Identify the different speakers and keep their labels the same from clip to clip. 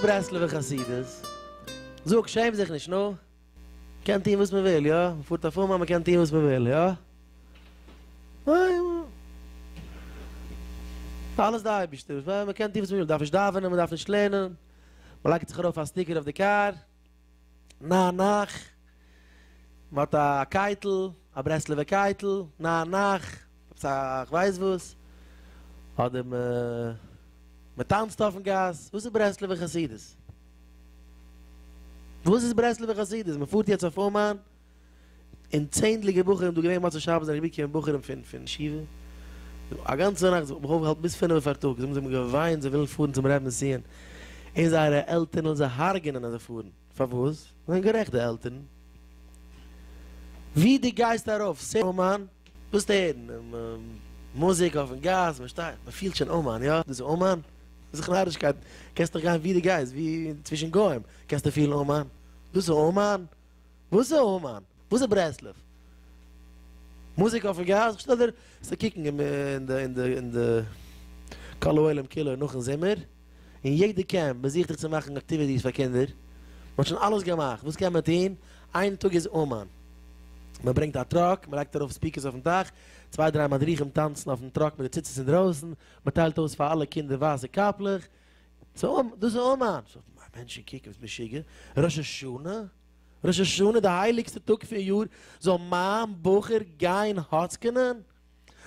Speaker 1: ברסלב'ע חסידות, זאג, שעם זיך נישט, נו. מ'קען טון וואס מ'וויל, יא? מ'פארט אויף אומאן, מ'קען טון וואס מ'וויל, יא? אלעס די אייבערשטער, מ'קען טון וואס מ'וויל, מ'דארף נישט דאווענען, מ'דארף נישט לערנען, מ'לייגט זיך ארויף א סטיקער אויף די קאר. נא נח, מען האט א קייטל, א ברסלב'ע קייטל, נא נח, עפעס א כ'ווייס וואס, אדער מען טאנצט אויפן גאס, וואס איז ברסלב'ע חסידות? וואס איז ברסלב'ע חסידות? מען פארט יעצט אויף אומאן? און צענדליגער בחורים דא געווען מוצאי שבת זענען אריבערגעקומען בחורים פון פון ישיבה דא א גאנצע נאכט זיך מיך אויפגעהאלטן ביז פינעווע פארטאגס זיי האבן געוויינט זיי ווילן פארן צום רעב נסיון און זייערע עלטערן ווילן זיי הרג'נען אז זיי פארן פארוואס זיי זענען גערעכט די עלטערן ווי דו גייסט ארויף סער אומאן וועסטו הערן מוזיק אויפן גאס מען שטייט מען פילט שוין אומאן יא דאס איז אומאן איז דאך נארישקייט קענסט דאך גיין ווי דו גייסט ווי צווישן גוים קענסטו פילן אומאן דאס איז אומאן. וואס איז אומאן? וואס איז ברסלב? מוזיק אויפן גאס? איך שטעל דיר צו קוקן אין די כל העולם כולו נאכן זומער, און יעדער קעמפ מען זוכט זיך צו מאכן אקטיוויטיס פאר קינדער, מען האט שוין אלעס געמאכט, וואס קען מען טון? איין טאג איז אומאן, מען ברענגט א טראק, מען לייגט ארויף ספיקערס אויפן דאך, צוויי דריי מדריכים טאנצן אויפן טראק מיט די ציצית אינדרויסן, מען טיילט אויס פאר אלע קינדער ווייסע קאפלעך, דאס איז אומאן, סאו מענטשן קוקן וואס משוגע, ראש השנה, ראש השנה די הייליגסטע טאג פון יאר, זאל מיין בחור גיין האצקענען?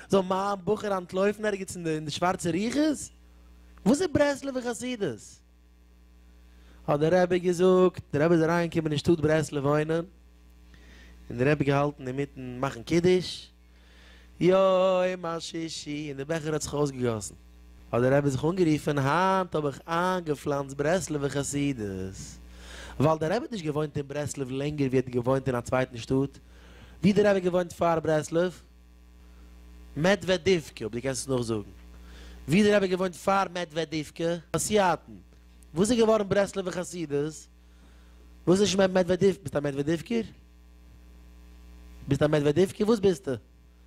Speaker 1: זאל מיין בחור אנטלויפן ערגעץ אין די שווארצע רוחות? וואס איז ברסלב'ע חסידות? האט דער רבי געזאגט, דער רבי איז אריינגעקומען אין שטאט ברסלב וואוינען, און דער רבי געהאלטן אינמיטן מאכן קידוש, יום השישי און די בעכער האט זיך אויסגעגאסן, האט דער רבי זיך אנגערופן, היינט האב איך איינגעפלאנצט ברסלב'ע חסידות, ווייל דער רבי האט נישט געוואוינט אין ברסלב לענגער ווי ער האט געוואוינט אין א צווייטן שטאט, ווי דער רבי האט געוואוינט פאר ברסלב? מעדוועדיווקע, אויב דו קענסט עס נאכזאגן, ווי דער רבי האט געוואוינט פאר מעדוועדיווקע? באסיאטן, וואס איז געווארן ברסלב'ע חסידות? וואס איז נישט מעדוועדיוו? ביסט א מעדוועדיווקער? ביסט א מעדוועדיווקער? וואס ביסטו?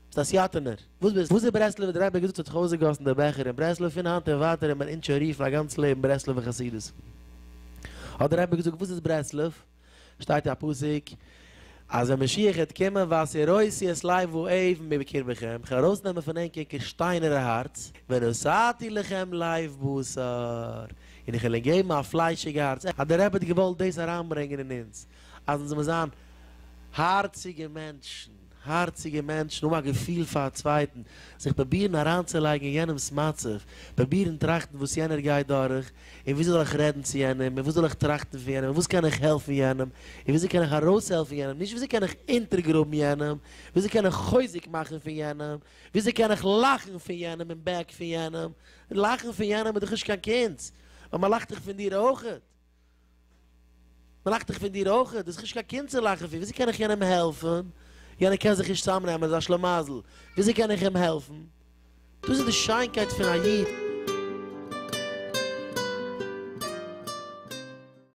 Speaker 1: ביסט א סיאטענער? וואס ביסטו? וואס איז ברסלב'ער? דער רבי האט געזאגט ס'האט זיך אויסגעגאסן דער בעכער אין ברסלב, פון היינט און ווייטער וועט מען אונז שוין רופן א גאנץ לעבן ברסלב'ער חסידות. האט דער רבי געזאגט וואס איז ברסלב? שטייט אין א פסוק. אז דער משיח העט קומען והסירותי את לב האויב מבקרבכם, כ'וועל ארויסנעמען פון ענק ענקער שטיינערע הארץ, ונשאתי לכם לב בשר, און איך וועל אונק געבן א פליישיגע הארץ, אז דער רבי האט געוואלט דאס אריינברענגען אין אונז, אז אונז זאל מיר זיין הארציגע מענטשן, הארציגע מענטשן, האבן א געפיל פאר א צווייטן, זיך פרובירן אריינצולייגן אין יענעמ'ס מצב, פרובירן טראכטן וואס יענער גייט דורך, און וויאזוי זאל איך רעדן צו יענעם, און וואס זאל איך טראכטן פון יענעם, און וואס קען איך העלפן יענעם, און וויאזוי קען איך ארויסהעלפן יענעם, נישט וויאזוי קען איך אונטערגראבן יענעם, וויאזוי קען איך חוזק מאכן פון יענעם, וויאזוי קען איך לאכן פון יענעם אין בעק פון יענעם, לאכן פון יענעם איז דאך נישט קיין קונץ, ווייל מען לאכט דאך פון דיר אויך. מען לאכט דאך פון דיר אויך, דאס איז נישט קיין קינד צו לאכן פון, וויאזוי קען איך יענעם העלפן, יענער קען זיך נישט צוזאמנעמען, איז א שלמזל, וויאזוי קען איך אים העלפן, דאס איז די שיינקייט פון א איד.